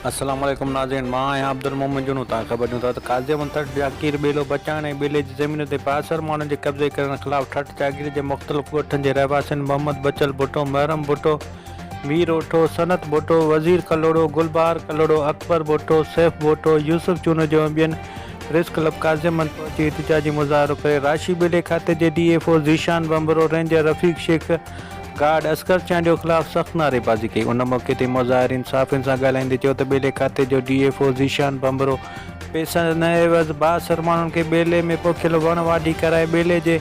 السلام عليڪم ناظرين مان آهيان عبدالمومن جنون توهان خبر ڏيون ٿا ته قاضي احمد ٺٽ جاگير ٻيلو بچائڻ ۽ ٻيلي جي زمينن تي بااثر ماڻهن جي قبضي ڪرڻ خلاف ٺٽ جاگير جي مختلف ڳوٺن جي رهواسين محمد بچل ڀٽو محرم ڀٽو مير اوٺو صنعت ڀٽو وزير ڪلهوڙو گلبهار ڪلهوڙو اڪبر ڀٽو سيف ڀٽو يوسف چونجو ۽ ٻين پريس ڪلب قاضي احمد پهچي احتجاجي مظاهرو ڪري راشي ٻيلي کاتي جي D F O Zeeshan Bhanbhro ranger Rafiq Shaikh guard Asghar Chandio خلاف سخت نعريبازي ڪئي، ان موقعي تي مظاهرين صحافين سان ڳالهائيندي چيو ته ٻيلي کاتي جو D F O Zeeshan Bhanbhro پئسن عيوض بااثر ماڻهن کي ٻيلي ۾ پوکيل وڻ واڍي ڪرائي ٻيلي جي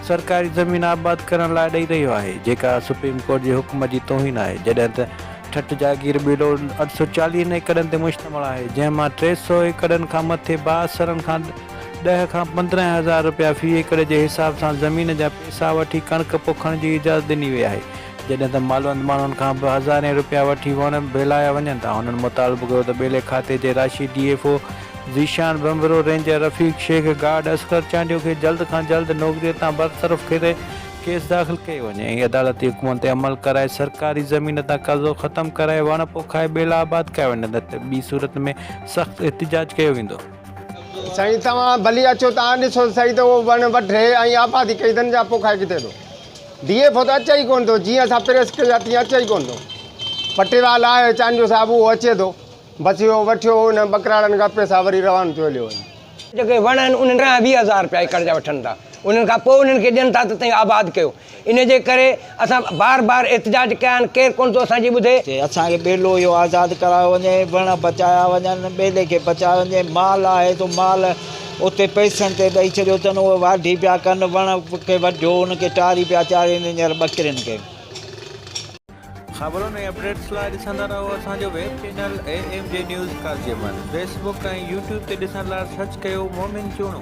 سرڪاري زمين آباد ڪرڻ لاء ڏئي رهيو آهي جيڪا سپريم ڪورٽ جي حڪم جي توهين آهي جڏهن ته ٺٽ جاگير ٻيلو اٺ سؤ چاليهن ايڪڙن تي مشتمل آهي جنهن مان ٽي سؤ ايڪڙن کان مٿي بااثرن کان ڏهه کان پندرهن هزار رپيا في ايڪڙ جي حساب سان زمين جا پئسا وٺي ڪڻڪ پوکڻ جي اجازت ڏني وئي آهي، جڏهن ته مالوند ماڻهن کان به هزارين رپيا وٺي وڻ ڀيلايا وڃن ٿا، هنن مطالبو ڪيو ته ٻيلي کاتي جي راشي D F O Zeeshan Bhanbhro, ranger Rafiq Shaikh, guard Asghar Chandio کي جلد کان جلد نوڪري تان برطرف ڪري ڪيس داخل ڪيو وڃي ۽ عدالتي حڪمن تي عمل ڪرائي سرڪاري زمين تان قبضو ختم ڪرائي وڻ پوکائي ٻيلا آباد ڪيا وڃن نه ته ٻي صورت ۾ سخت احتجاج ڪيو ويندو. سائين توهان ڀلي اچو ته آن ڏسو ته سهي ته اهو وڻ وڍي ۽ آباد ڪئي اٿن يا پوکائي ڪٿي ٿو ڊي ايف او ته اچي ئي ڪونه ٿو جيئن اسان پريس ڪئي آهي تيئن اچي ئي ڪونه ٿو پٽيوال آهي چانڊيو صاحب اهو اچي ٿو بس اهو وٺيو انهن ٻڪراڙن کان پئسا وري روانو ٿيو هليو وڃي. جيڪي وڻ آهن انهن کان ويهه هزار رپيا ايڪڙ جا وٺن ٿا انهن کان پوء انهن کي ڏين ٿا ته تئين آباد ڪيو ان جي ڪري اسان بار بار احتجاج ڪيا آهن، ڪير ڪونه ٿو اسان جي ٻڌي. چي اسان کي ٻيلو اهو آزاد ڪرايو وڃي، وڻ بچايا وڃن، ٻيلي کي بچايو وڃي، مال آهي سو مال اتي پئسن تي ڏئي ڇڏيو اٿن، اهي واڍي پيا ڪن، وڻ کي وڍيو، ان کي ٽاري پيا چارين هينئر ٻڪرين کي. خبرن ۽ اپڊيٽس لاء ڏسندا رهو اسان جو web channel A M G news Qazi Ahmed Facebook ۽ YouTube تي ڏسڻ لاء سرچ ڪيو مومن چوڻو.